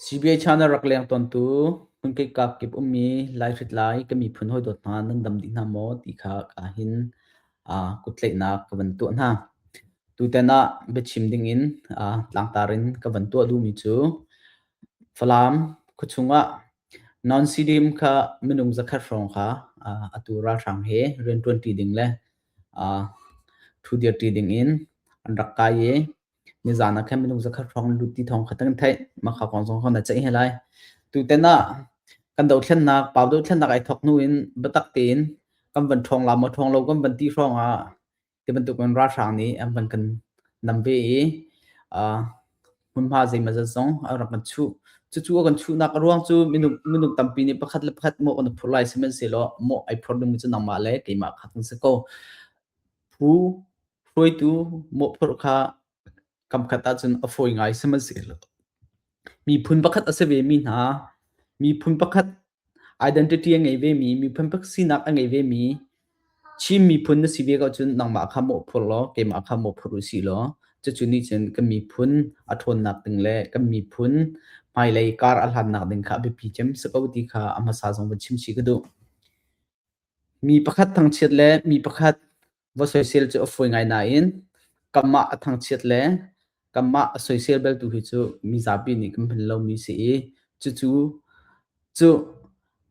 CBA China rak leng tawntu hmunkeikap kip ummi Lai hritlai ka miphun hawidawt hna nan dam dih hna maw ti kha ahhin kuttlaihnak ka van tuah hna. Tutan ah biachim dingin tlangtar in ka van tuah duhmi cu Falam khuachung ah non stadium kha minung zakhat hrawng kha atu ralhrang he rianṭuanṭi ding le ṭhu dirṭi dingin an rak kai i Nizaan ah khan minung zakhat hrawng lut ti thawng kha kan theih. Mahka kong zong kha na ceih he lai. Tutan ah kan dothlennak pau dothlennak ai thok hnu in biatak tein kan van ṭhawng la maw ṭhawng lo kan van ti hrawng ah ti bantuk in ralhrang nih an van kan nam ve i uh, hmunhma zeimaw zat zong an rak kan chuh. Cucu a kan chuhnak a ruang cu minung minung tampi nih pakhat le pakhat maw kan i phurh lai sihmanhsehlaw maw ai phurh dingmi cu nangmah le keimah kha kan si ko. Phu hruaitu mawhphurh kha kamkhat ahcun a fawi ngai sihmanhsehlaw miphun pakhat a si vemi hna, miphun pakhat identity a ngei vemi, miphun pakhat sinak a ngei vemi Chin miphun na si ve ko cun nangmah kha mawhphurh law keimah kha mawhphurh u sih law cucu nih cun kan miphun a ṭhawnnak ding le kan miphun hmailei kar a hlannak ding kha a biapi cem si ko ti kha a hmasa zong van chim chih ka duh. Mi pakhat thangchiat le mi pakhat va soisel cu a fawi ngai nain kanmah a thangchiat le kanmah a soisel bel tu hi cu mi zapi nih kan hman lomi si i cucu cu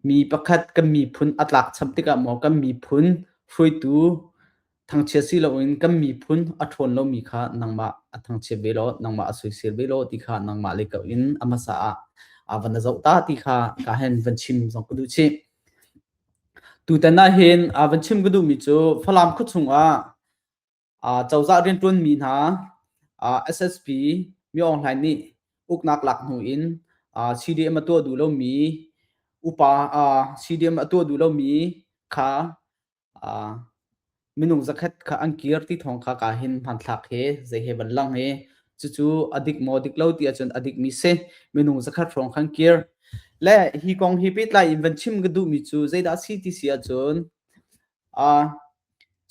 mi pakhat kan miphun a tlak cham tikah maw kan miphun hruaitu thangchiat si loin kan miphun a ṭhawn lomi kha nangmah a thangchiat ve law nangmah a soisel ve law ti kha nangmah le kau in a hmasa ah a van i zoh ta ti kha ka hen van chim zong ka duh chih. Tutan ahhin aa van chim ka duhmi cu Falam khua chungah aa cozah rianṭuanmi hna aa SSP Mi Aung Hlain nih uknak lak hnu in aa CDM a tuah duh lomi upa aa CDM a tuah duh lomi kha aa minung zakhat kha an kir ti thawng kha ka hin hmanthlak he zei he ban lang he cucu a dik maw dik lo ti ahcun a dikmi si minung zakhat hrawng khan kir le hi kong hi pehtlai in van chim ka duhmi cu zeidah si ti si ahcun uh,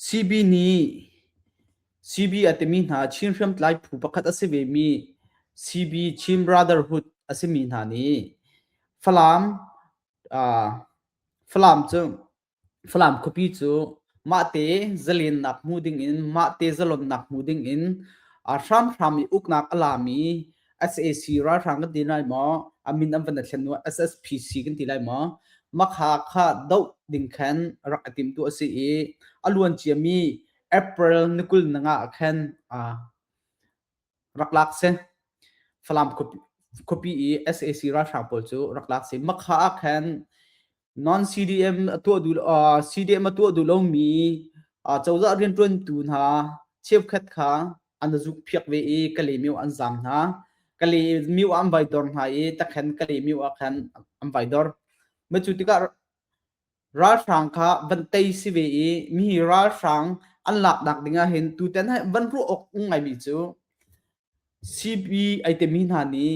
CB nih CB a timi hna Chin hriamtlai phu pakhat a si ve mi CB Chin Brotherhood a simi hna nih Falam uh, Falam cu Falam khuapi cu mahte zalennak hmu dingin mahte zalonnak hmu dingin a hramhram i uknak a lami sac ralhrang kan ti lai maw a min an van thlen nu SSPC kan ti lai maw makha kha doh ding khan rak i timtu a si i a luan ciami April ni kul ni nga ah khan rak lak si Falam khuapi i sac ralhrang pawl cu rak lak si makha ah khan Non-CDM a tuah duh uh, CDM a tuah duh lomi uh, cozah rianṭuantu hna cheukhat kha an zuk phiak ve i kale mio an zam hna kale mio an vai dor hna i takhan kale mio a khan an vai dor ma cu tikah ralhrang kha van tei si ve i mi ralhrang an lak nak dingah hin tutan hai van ru ok ngai mi cu CB ai te mi hna nih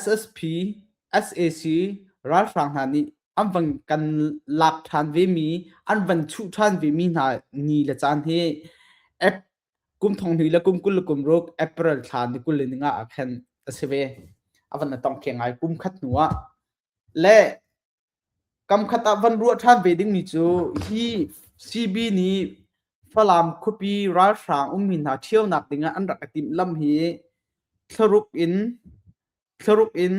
SSP, sac ralhrang hna nih an van kan lak ṭhan vemi, an van chuh ṭhan vemi hna ni le caan hi Ap kum thong hnih le kum kul le kum ruk April thla ni kul le ni nga ah khan a si ve. A van la tong theng ngai kum khat hnu ah. Le Kamkhat ah van ruah ṭhan ve dingmi cu hi CB nih Falam khuapi ralhrang ummi hna ṭhionak dingah an rak i timhlamh hi thlaruk in thlaruk in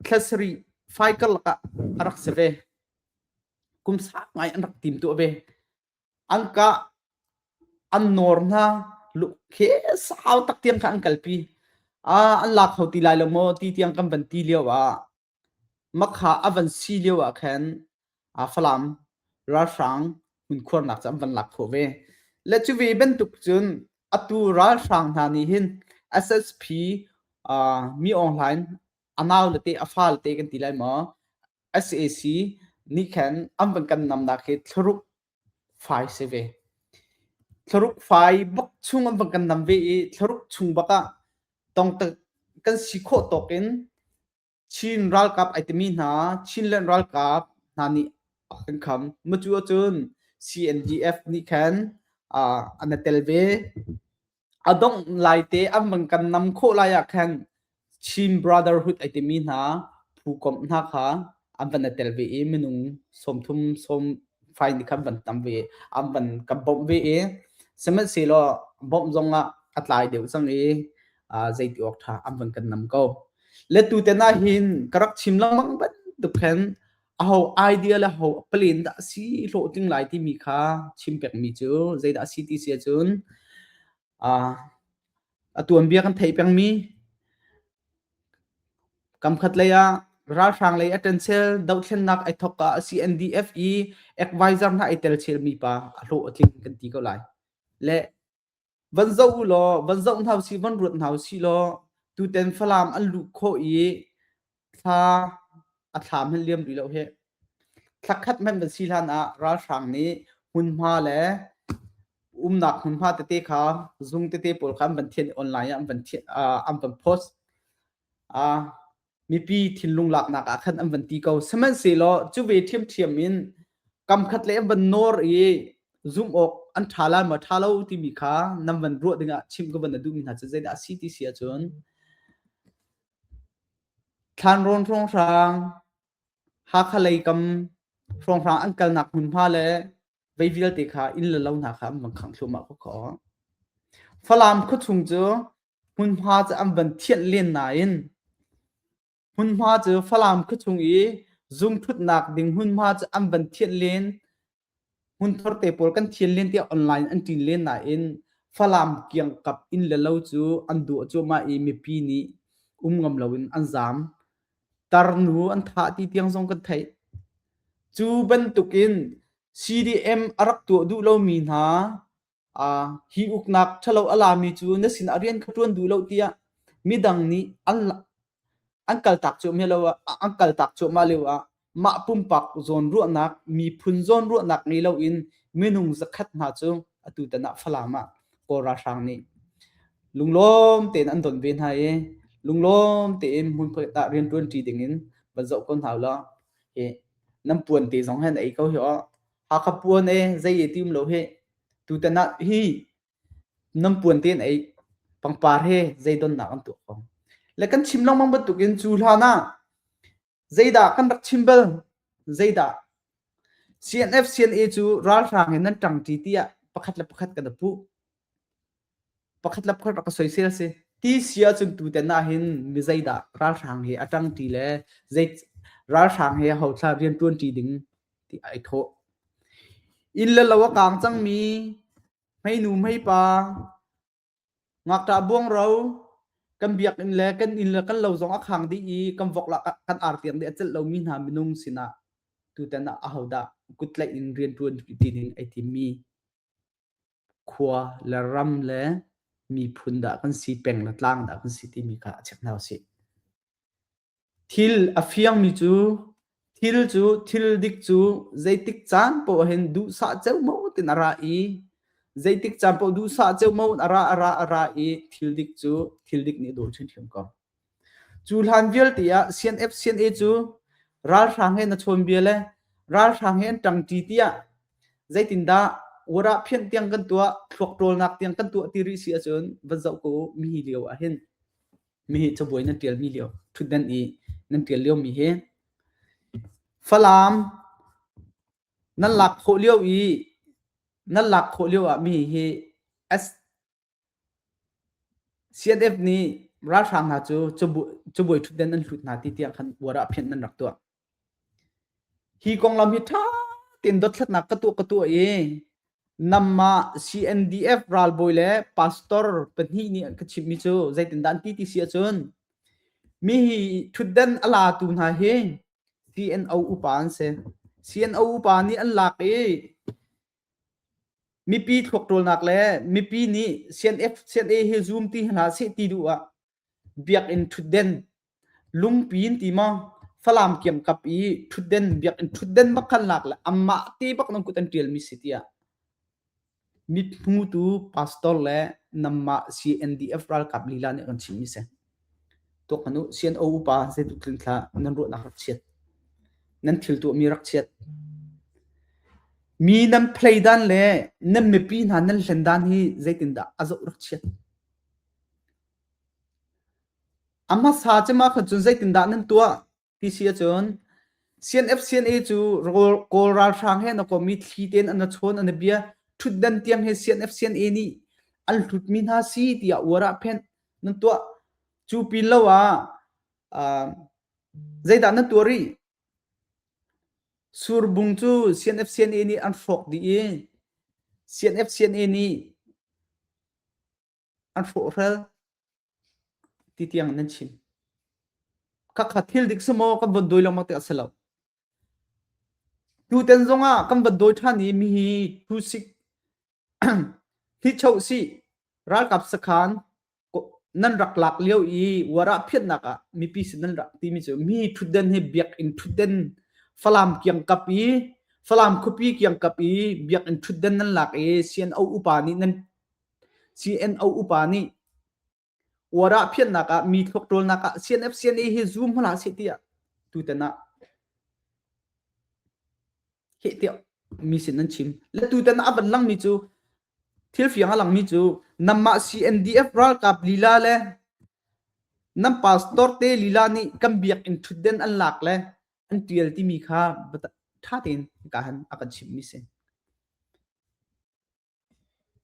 thla sarih faikal lakah a rak si ve. Kum sang ngai an rak tim tuah ve. An kah an nawr hna lukkhe sau tak tiang kha an kalpi. Ah an la kho ti lai lo maw ti tiang kan van ti lio ah Makha a van si lio ah khan Falam ralhrang hmunkhuarnak cu an van lak khawh ve. Le cu ve bantuk cun atu ralhrang hna nih hin SSP Mi Aung Hlaing a nau le te a fa le te kan ti lai maw? SAC nih khan an van kan namnak hi thlaruk fai si ve. Thlaruk fai bak chung an van kan nam ve i thlaruk chung bak ah tawngta kan si khawh tawk in Chin ralkap ai timi hna Chinland ralkap hna nih a kan kham. Mucu ahcun CNDF nih khan uh, an a tel ve. A dongh lai te an van kan nam khawh lai ah khan Chin Brotherhood ai timi hna phu komh hna kha an van a tel ve i minung sawmthum sawm fai nih khan van tam ve an van kan bawmh ve i sihmanhsehlaw bawmh zong ah a tlai deuh cang i zeiti awk tha an van kan nam ko letu tena hin ka rak chim lengmang bantuk khan aho idea le ho plan dah si hlo tling lai ti mi kha chim pek mi cu zeidah si ti sia cun a atuan bia kan thei peng mi kam khat lei ah ralhrang lei attention do thlen nak ai thok ka CNDF i advisor na ai tel chel mi pa a hlo atling kan ti ko lai le Van zoh u law, van zoh hna usih, van ruat hna usih law, tuten Falam an luh khawh i thla a thlam hmanh liam rih lo hi. Thla khat hmanh van si hlan ah ralhrang nih hmunhma le umnak hmunhma tete kha zung tete pawl kha an van thian i online ah an van thian, ah an van post. Ah mipi thinlung laknak ah khan an van ti ko sihmanhsehlaw cu ve ṭhiamṭhiam in kamkhat le van nawr i zumh awk an ṭha lai maw ṭha lo timi kha nan van ruah dingah chim ka van na duhmi hna cu zeidah a si ti si ahcun thlan rawn hrawng hrang hakha lei kam hrawng hrang an kalnak hmunhma le vei vialte kha inn le lo hna kha an van khang thluahmah ko kho falam khuachung cu Hmunhma cu an van thianh len nain hmunhma cu Falam khua chung i zungthutnak ding hmunhma cu an van thianh len hmunthur te pawl kan thian len tiah online in an ṭin len nain Falam kiangkap inn le lo cu an duh a cuahmah i mipi nih um ngam loin an zaam. Tarnu an thah ti tiang zong kan theih. Cu bantukin CDM a rak tuah duh lomi hna Aa, hi uknak ṭhalo a lami cu na sinah rian kha ṭuan duh lo tiah midang nih an an kaltak cuahmah lo ah an kaltak cuahmah lio ah mah pumpak zawnruahnak miphun zawnruahnak ngei loin minung zakhat hna cu atu tan ah Falam ah Kawl ralhrang nih lunglawm tein an don ve hna i lunglawm tein hmunphiat ah rianṭuanṭi dingin van zoh ko hna ulaw hi nan puan te zong hi an ei ko hi aw. a ka puan e zei e tim lo he tutan ah hi nam puan ten ei pangpar he zei don nak an tu ko le kan chim long mang bantuk in chu hlan ah zeidah kan rak chim bel zeidah CNF CNA cu ralhrang in nan tang ti tiah pakhat le pakhat kan pu pakhat le pakhat rak ka soisel a si ti si ahcun tu ten ah hin mi zeidah ralhrang he a ṭang ṭi le zei ralhrang he hauthla rian ṭuan ṭi ding ti ai thawh inn le lo a kaang cangmi hmeinu hmeipa ngakṭah buangro kan biakinn le kan inn le kan lo zong a khang dih i kan vok la kan ar tiang dih a celh lomi hna minung sinah tutan ah ahodah kuttlaih in rian ṭuan ṭi ding ai timmi khua le ram le miphun dah kan si, peng le tlang dah kan si timi kha a check hna usih. Thil a fiangmi cu thil cu thil dik cu zeitik caan poh hin duhsah ceu mo tin a ra i zeitik caan poh duhsah ceu mo a ra a ra a ra i thil dik cu thil dik nih a daw chinchin ko. Cu hlan vialte ah CNF CNA cu ralhrang he na chawnbia le ralhrang he an ṭangṭi tiah zeitindah Warah phianh tiang kan tuah thluak ṭawlnak tiang kan tuah ti rih si ahcun van zoh ko u mihi lio ah hin mihi cabuai nan ṭialmi lio ṭhutdan i nan ṭial liomi hi Falam nan lak khawh lio i nan lak khawh lio ah mihi hi CNF nih ralhrang hna cu cabuai ṭhutden an hlut hna ti tiah khan uar ah phianh an rak tuah. Hi konglam hi ṭha tein dothlatnak ka tuah ka tuah i namah CNDF ralbawi le pastor pahnih nih ka chimmi cu zeitindah an ti ti si ahcun mi hi ṭhutden a latu hna hi CNO upa an si. CNO upa nih an lak i Mipi thluakṭawlnak le mipi nih CNF CNA hi zum ti hlah seh ti duh ah biakinn ṭhutden lungpi in ti maw Falam kiam kap i ṭhutden biakinn ṭhutden bak khalnak le amah te bak nan kut an ṭialmi si tiah mithmutu pastor le namah CNDF ralkap lila nih kan chimmi si. Tuaktan u Sian-aw upa zeitluk tlin hlah nan ruahnak rak chiat. Nan thil tuahmi rak chiat. Mi nan play dan le nan mipi hna nan hlen dan hi zeitindah a zoh rak chiat. A hmasa cema khan cun zeitindah nan tuah? Ti si ahcun CNFCNA cu Kawl ralhrang he na komi thli tein an chawn an bia ṭhutdan tiang he CNFCNA nih an hlutmi hna si tiah uar ah phenh nan tuah cu pin lo ah zeidah na tuah rih surbung cu CNFCNA nih an hrawk dih i CNFCNA nih an hrawhrel ti tiang nan chim khakha thil dik semaw kan von dawi lengmang te a si lo tuten zongah kan van dawi than i mi hi thu sik hi cho si ralkap sakhan nan rak lak lio i wara phiatnak ah mipi sin nan rak timi cu mi thutden hi biak in thutden falam kiang kap i falam khupi kiang kap i biak in thutden nan lak i sian au upa nih nan CNO upa nih uarah phiannak ah mi thluak ṭawlnak ah CNF CNA hi zum hlah seh tiah tutan ah heh tiah mi sin an chim le tutan ah a van langmi cu thil fiang a langmi cu namah CNDF ralkap lila le nam pastor te lila nih kan biakinn ṭhutden an lak le an ṭial timi kha ṭha tein ka han a kan chimmi si.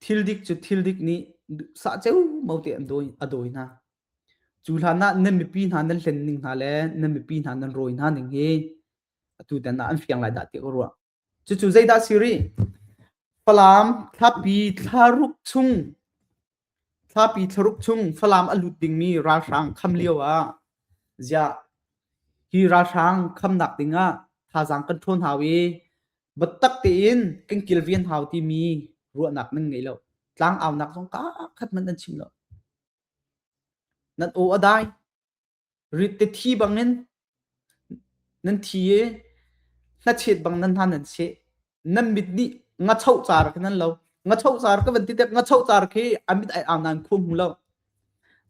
Thildik cu thildik nih duhsah ceumo te an a dawi hna. Cu hlan ah nan mipi hna nan hlen ning hna le nan mipi hna nan rawi hna ning hi atu tan ah an fiang lai dah ti ka ruah. Cucu zeidah si rih? Falam, thlapi, thlaruk chung Thlapi thlaruk chung Falam a lut dingmi ralhrang kham lioah ziah hi ralhrang khamnak dingah thazaang kan ṭhawn hau i biatak tein kan kilven hau timi ruahnak nan ngei lo. Tlangaunak zong ka khat hmanh nan chim lo. Nan aw a dai. rit te thi bangin nan thi i hnachet bang nan hna nan seh nan mit nih ngacho car khi nan lo ngacho car ka van ti tep ngacho car khi a mit ai au nan khum lo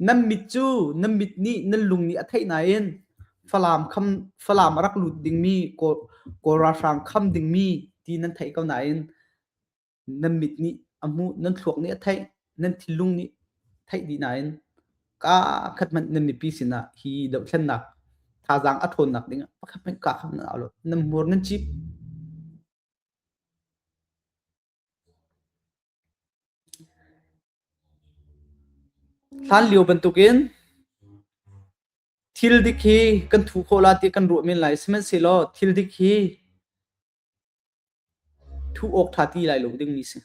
nan mit cu nan mit nih nan lung nih a theih nain falam kham falam a rak lut dingmi kawl kawl ralhrang kham dingmi ti nan theih ko nain nan mit nih a hmuh nan thluak nih a theih nan thinlung nih theih dih nain ka khat hmanh nan mipi sinah hi dohthlennak thazaang a ṭhawnnak dingah pakhat hmanh ka kha na lo nan hmur nan chip hlan lio bantukin thil dik hi kan thu khawh la ti kan ruah men lai sihmanhsehlaw thil dik hi Thuh awk ṭha ti lai lo dingmi si.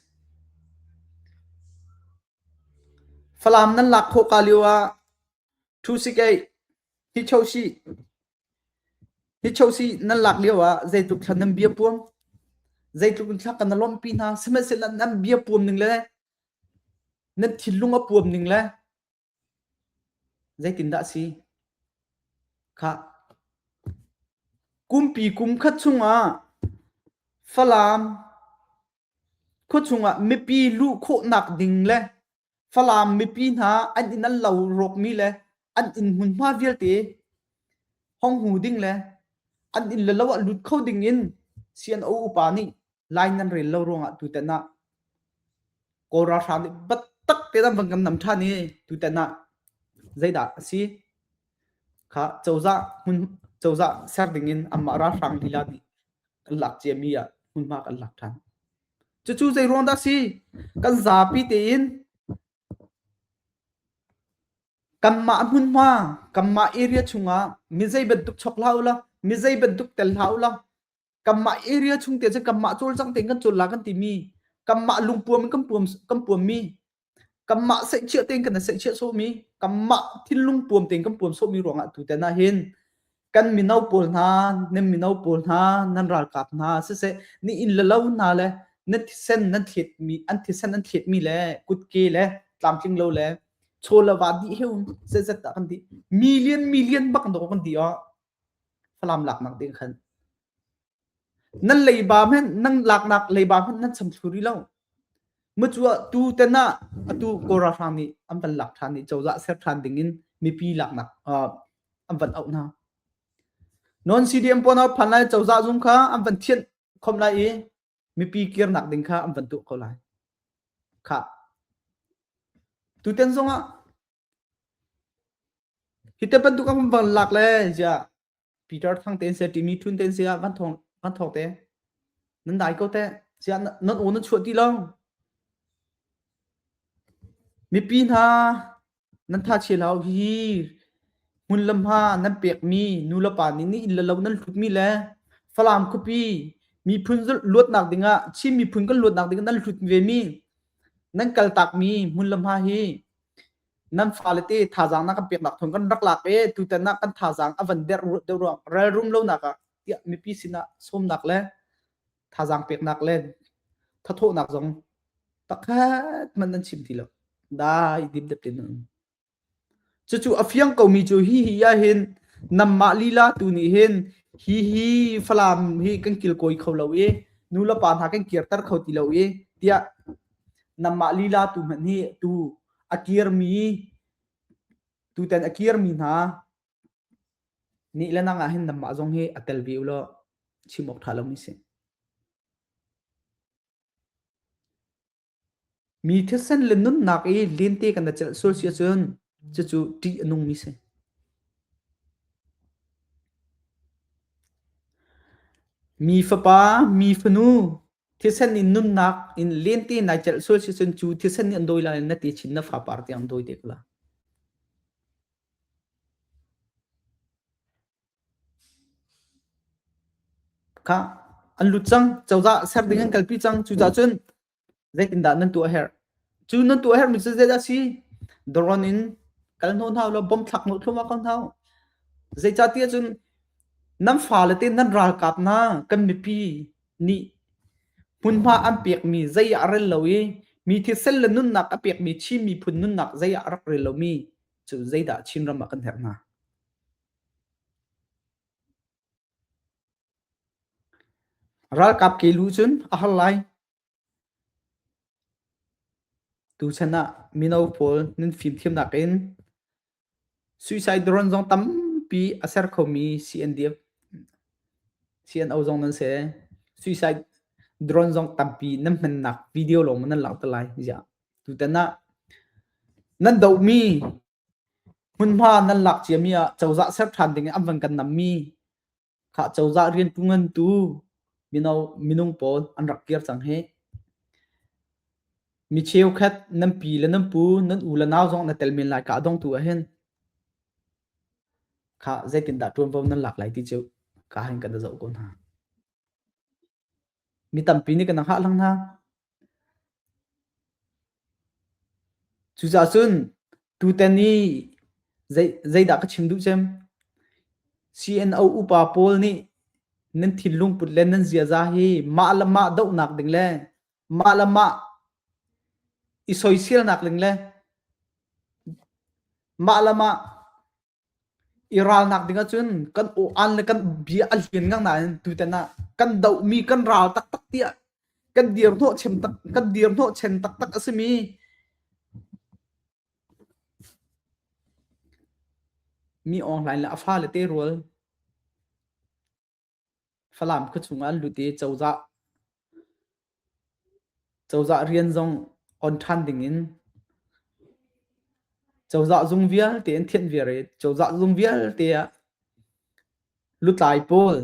Falam nan lak khawh ka lio ah ṭhusikeih, hichosi, hichosi nan lak lio ah zeitluk thla nan bia puam, zeitluk in thla ka na lawmhpi hna, sihmanhsehlaw nan bia puam ning le nan thinlung a puam ning le Zeitindah a si? Khah. Kumpi kum khat chungah Falam khua chungah mipi luh khawhnak ding le Falam mipi hna an in an lo rawkmi le an inn hmunhma vialte hong hu ding le an inn le lo ah lut kho ding in si an u upa nih lai nan rel lo ruangah tutan ah kawl ralhrang nih battak te an van kan nam ṭhan i tutan ah zeidah a si kha cozah hmun cozah ser dingin amah ralhrang lila nih kan lak ciami ah hmunhma kan lak ṭhan cucu zei ruang dah si kan zapi tein kanmah hmunhma kanmah area chungah mi zei bantuk chok hlah ula mi zei bantuk tel hlah ula kanmah area chung te cun kanmah cawlcang te kan cawla kan timi kanmah lungpuam in kan puam kan puammi kanmah seihchiah tein kan seihchiah sawmi kanmah thinlung puam tein kan puam sawmi ruangah tu ten ah hin kan mino pawl hna nan mino pawl hna nan ralkap hna siseh ni in lalo hna le nan thisen nan thlet mi an thisen an thlet mi le kutke le tlamtling lo le cholawa di heu se zet da kan di million million bak do kan di o Falam laknak ding khan nan leiba men nan laknak leiba hmanh nan cham thlu rih lo macu ah tu ten ah atu kora hrang nih an van lak ṭhan i cozah ser ṭhan ding in mipi laknak an van auh hna non CDM pawn a phan lai cozah zung kha an van thianh khom lai i mipi kirnak ding kha an van tuh ko lai kha tuten zong ah Hi te bantuk a um van lak le ziah Peter Thang te se, Timi Thun te se ah van thawng van thawk te nan dai ko teh ziah nan aw nan chuah ti lo mipi hna nan thachia hlah uh hihi hmun le hma nan pekmi nu le pa nih nih inn le lo nan hlutmi le Falam khuapi miphun luatnak dingah Chin miphun kan luatnak dingah nan hlut vemi nan kal takmi hmun le hma hi nan fale te thazaang na kan peknak thawng kan rak lak e tutan ah kan thazaang a van der deuh ruang relrum lonak ah tiah mipi sinah sawmnak le thazaang peknak le thathawhnak zong takhat man nan chim ti lo dai dim dep ten cucu a fiang komi cu hi hi ya hin namma lila tu ni hin hi hi falam hi kan kil koi kho lo i nu le pa hna kan kir tar kho ti lo i tiah Nanmah lila tu hmanh nih tu a kirmi tutan a kirmi hna nih le nang ah hin nanmah zong hi a tel ve u law chim awk ṭha lomi si. Mi thisen le nunnak i lente kan na celh sual si ahcun cucu ṭih a nungmi si. Mi fapa, mi fanu, Thisen in nunnak in lente nai celh sual si cun cu thisen nih an dawi lai na ti chin na fa par ti ang dawi dek la. Ka an lut cang cozah ser ding an kalpi cang cucah cun zeitindah nan tuah her cu nan tuah her mi cu zeidah si doron in kal hno hnaw lo bom thlak no thluma ko hnaw zeicatiah cun nan fa le te nan ralkap na kan mipi nih hmunhma an pekmi zei ah rel lo i mi thisen le nunnak a pekmi Chin miphun nunnak zei ah rak rel lomi cu zeidah Chinram ah kan herh hnga? Ralkap ke lu cun a har lai. Tuchan ah mino pawl nan fimthiamnak in Suicide drone zong tampi a ser khomi CNDF, CNO zong nan si. Suicide drone zong tampi nan hmannak video lawng maw nan langh te lai ziah. Tutan ah nan dohmi hmunhma nan lak ciami ah cozah ser ṭhan ding in an van kan nammi Khah cozah rian tu ngantu mino minung pawl an rak kir cang hi. Mi cheukhat nan pi le nan pu nan u le nau zong na tel men lai ka dong tu ahhin kha zeitindah ṭuanvo nan lak lai ti cu ka hin ka na zoh ko hna. Mi tampi nih kan rak hngah hlang hna. Cucaah cun tutan i zei, zeidah ka chim duh cem? CNO upa pawl nih nan thinlung put le nan ziaza hi mah le mah dohnak ding le mah le mah i soiselnak ding le mah le mah I ralnak ding ahcun kan aw-an le kan bia a lianngang nain tutan ah kan dohmi kan ral taktak tiah kan dirhnawhchem tak kan dirhnawhchen taktak a simi mi awnglai le a fale te rual. Falam khuachung ah an lut i cozah, cozah rian zong on ṭhan ding in cozah zung vialte an thianh viar i cozah zung vialte ah lutlai pawl,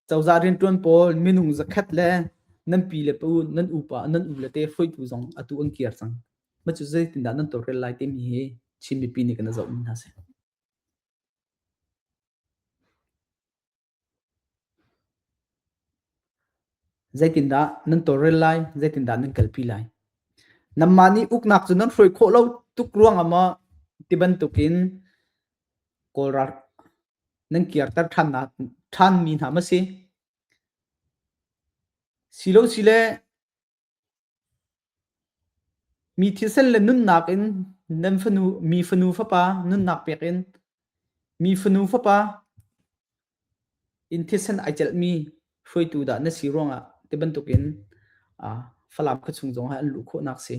cozah rianṭuan pawl, minung zakhat le nan pi le pa u, nan upa, nan u le te hruaitu zong atu an kir cang. Mah cu zeitindah nan tawlrel lai timi hi Chin mipi nih kan i zohmi hna a si. Zeitindah nan tawlrel lai? Zeitindah nan kalpi lai? Nanmah nih uknak cu nan hruai khawh lo tuk ruangah maw ti bantukin kawlra nan kirter ṭhannak ṭhanmi hna maw si? Silo sile Mi thisen le nunnak in nan fanu mi fanu fapa nunnak pek in mi fanu fapa in thisen ai celhmi hruaitu dah na si ruangah ti bantukin ah Falam khuachung zong hi an luh khawhnak si.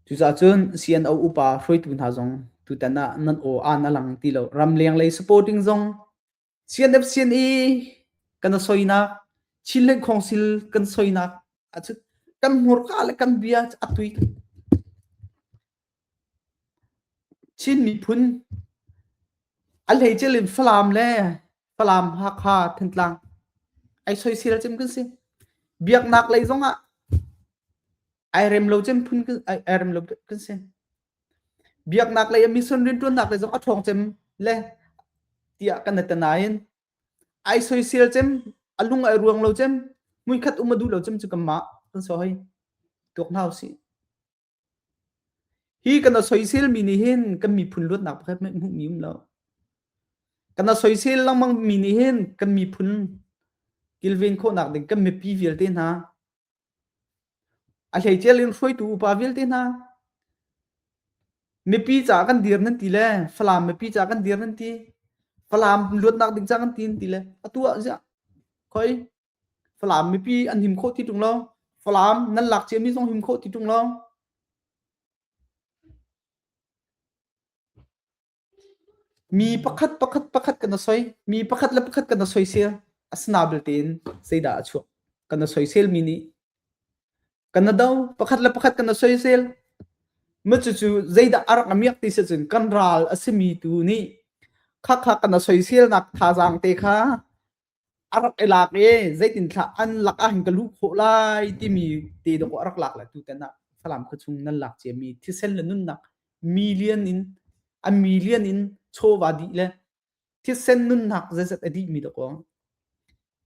Cuzacun CNO upa hruaitu hna zong tutan ah nan aw aan a lang ti lo. Ramleng lei supporting zong CNFCNE kan a soinak, Chinland Council kan soinak ahcun kan hmurka le kan bia cu a tui. Chin miphun a hleicelin Falam le Falam Hakha Thantlang ai soisel cem kan si biaknak lei zong ah ai rem lo cem phun ai rem lo kan si biaknak lei a mission riantuannak lei zong a ṭhawng cem le tiah kan atanain ai soisel cem a lung ai ruang lo cem muikhat um a du lo cem cu kamma kan so hoi tuak nau si Hi kan a soiselmi nih hin kan miphun luatnak pakhat hmanh hmuhmi um lo. Kan a soisel lengmangmi nih hin kan miphun kilven khawhnak ding kan mipi vialte hna, a hleicial in hruaitu upa vialte hna, mipi caah kan dir nan ti le Falam mipi caah kan dir nan ti, Falam luatnak ding caah kan ti nan ti le atu ah ziah khoi Falam mipi an him khawh ti ṭung lo. Falam nan lak ciami zong him khawh ti ṭung lo. Mi pakhat pakhat pakhat kan i soi. Mi pakhat le pakhat kan i soisel. Asinabil tein zeidah a chuak? Kan i soiselmi nih kan i do. Pakhat le pakhat kan i soisel. Cucu zeidah a rak miak ti sicun kan ral a simi tu nih khakha kan i soiselnak thazaang te kha a rak i lak i zeitinthlah an lak ah hin ka lu khawh lai timi te dawh a rak lak la tu tan ah Falam khuachung nan lak cia mi thisen le nunnak million in a million in chawva dih le thisen nunnak zeizat a dih mi dawk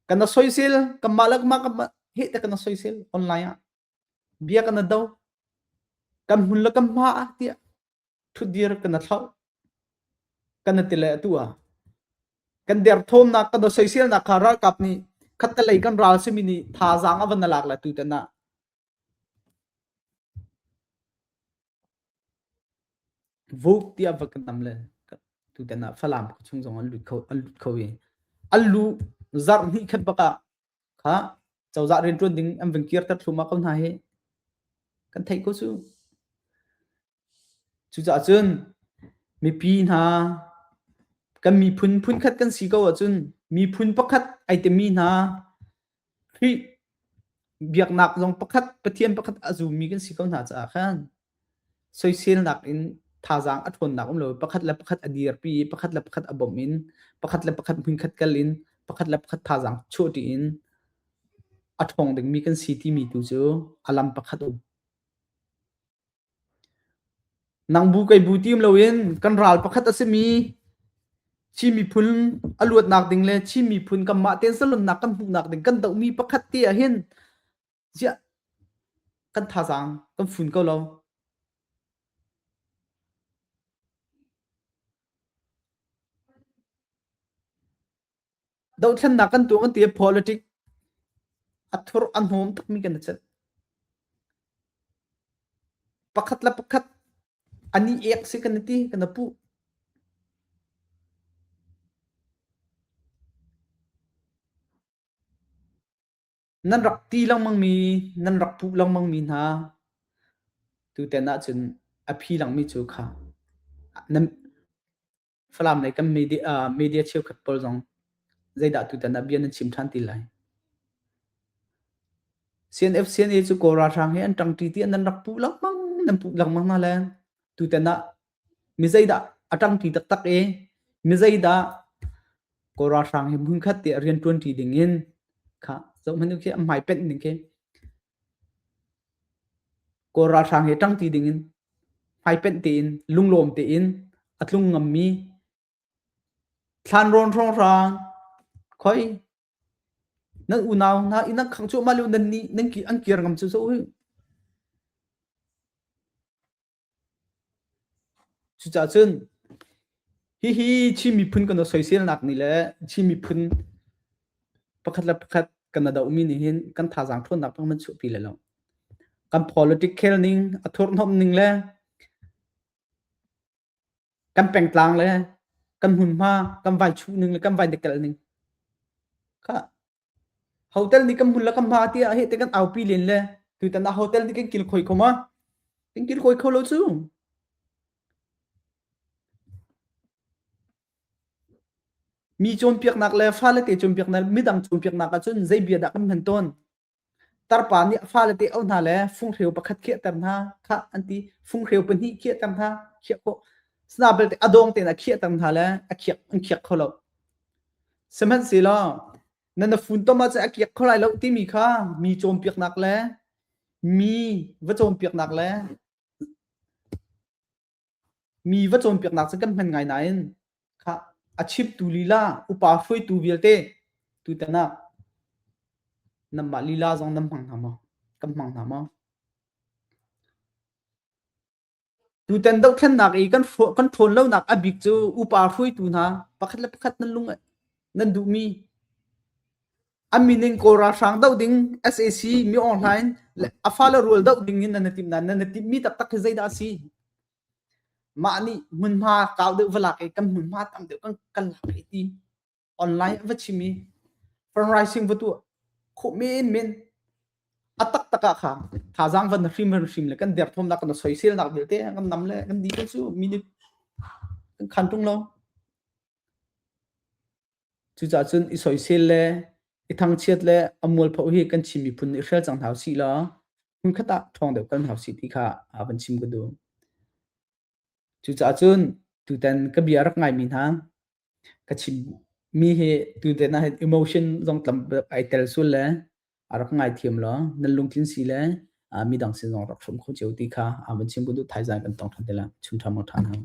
kana soisel kamah lakmah kamah he te kana soisel online ah bia kana do kan hun la kam hma ah tiah thutdir kan a thlauh kan a tile atu a kan derthawmnak kan soiselnak kha ralkap nih khattelei kan ral simi nih thazaang a van alak la tu tana vuk ti a kan tam le tu tana falam chung zong an lut kho an lut kho i an lu zar ni khat baka kha chawza rin tuan ding an ving kir tar thluma ko hna hi kan thei ko su Cucaah cun mipi hna kan miphun phunkhat kan si ko ahcun miphun pakhat ai timi hna Khrih biaknak zong pakhat Pathian pakhat a zummi kan si ko hna caah khan soiselnak in thazaang a ṭhawnnak um lo pakhat le pakhat a dirpi i pakhat le pakhat a bawmh in pakhat le pakhat hmunkhat kal in pakhat le pakhat thazaang chuahṭi in a ṭhawng dingmi kan si timi tu cu a lam pakhat um. Nang bu kei bu tim loin kan ral pakhat a simi Chin miphun a luatnak ding le Chin miphun kanmah tensalonnak kan hmuhnak ding kan dohmi pakhat te ahhin ziah kan thazaang kan fun ko lo. Dothlennak kan tuah kan ti politic a thur a hnawm takmi kan chat. Pakhat la pakhat ani ek si kan ti kan pu. nan rak ti langmang mi nan rak pu langmang mi hna tu ten ah cun a phi langmi cu kha Falam lei kan media, uh, media cheukhat pawl zong zeidah tutan ah bia nan chim ṭhan ti lai. CNF CNA cu Kawl ralhrang he an ṭang ṭi ti nan rak puh langmang nan puh langmang na le tutan ah mi zeidah a ṭang ṭi taktak e mi zeidah Kawl ralhrang hi hmunkhat te a rian ṭuan ṭi ding in kha zohman khi a hmai penh ning khi Kawl ralhrang hi ṭangṭi dingin hmaipenh tein lunglawm tein a tlung ngammi thlanrawn hrawnghrang khoi nan unau hna i nan khang cuahmah lio nan nih an kir ngam cu cu uh. Cucacun hihi Chin miphun kan rak soiselnak ni le Chin miphun pakhat le pakhat kan na dohmi nih hin kan thazaang ṭhawnnak bang nan chuahpi le lo. Kan politic khelning, a thurhnomh ning le kan pengtlang le kan hmunhma, kan vaichuh ning le kan vaindekelh ning kha Hotel nih kan bul le kan hma ti ah heh ti kan aupi len le tutan ah hotel nih kan kil khoi kho ma? Kan kil khoi kho lo cu. Mi cawnpiaknak le fale te cawnpiaknak midang cawnpiaknak ahcun zei bia dah kan hman tawn? Tarpa nih fale te au hna le funghreu pakhat khiahter hna khah an ti funghreu pahnih khiahter hna khiah khawh sna belte a dawng tein a khiahter hna le a khiak an khiak kho lo. Sihmanhsehlaw na na funtom ah cun a kiak kho lai lo timi kha mi cawnpiaknak le mi va cawnpiaknak le mi va cawnpiaknak cu kan hman ngai nain kha a chimtu lila upa hruaitu vialte tutan ah nanmah lila zong nan hmang hna maw? Kan hmang hna maw? Tutan dohthlennak i kan kan ṭhawn lonak a bik cu upa hruaitu hna pakhat le pakhat nan lung nan duhmi a min in Kawl ralhrang doh ding sac mi awhnghlai in a fale rual doh ding in nan i timh nain nan i timhmi taktak hi zeidah a si mah nih hmunhma kau deuh va lak i kan hmunhma tam deuh kan kan lak i ti online va chimi fundraising va tu khu men men atak taka kha kha zang van hrim van hrim le kan der thom nak kan soi sel nak belte kan nam le kan di chu minute kan khan tung lo chu cha chun i soi sel le i thang chiat le amul pho hi kan chimi phun i hrel chang thau si la hun khata thong deu kan hau si ti kha avan chim ku du chu cha chun tu ten ka bia rak ngai mi na ka chim mi hi tuten ah emotion zong tam ai tel sul le a rak ngai thiam lo nan lungtlin si le mi dang sin zong rak hrum kho cheu ti kha aman chim bu du thai zan kan tong than tela chung tham than hang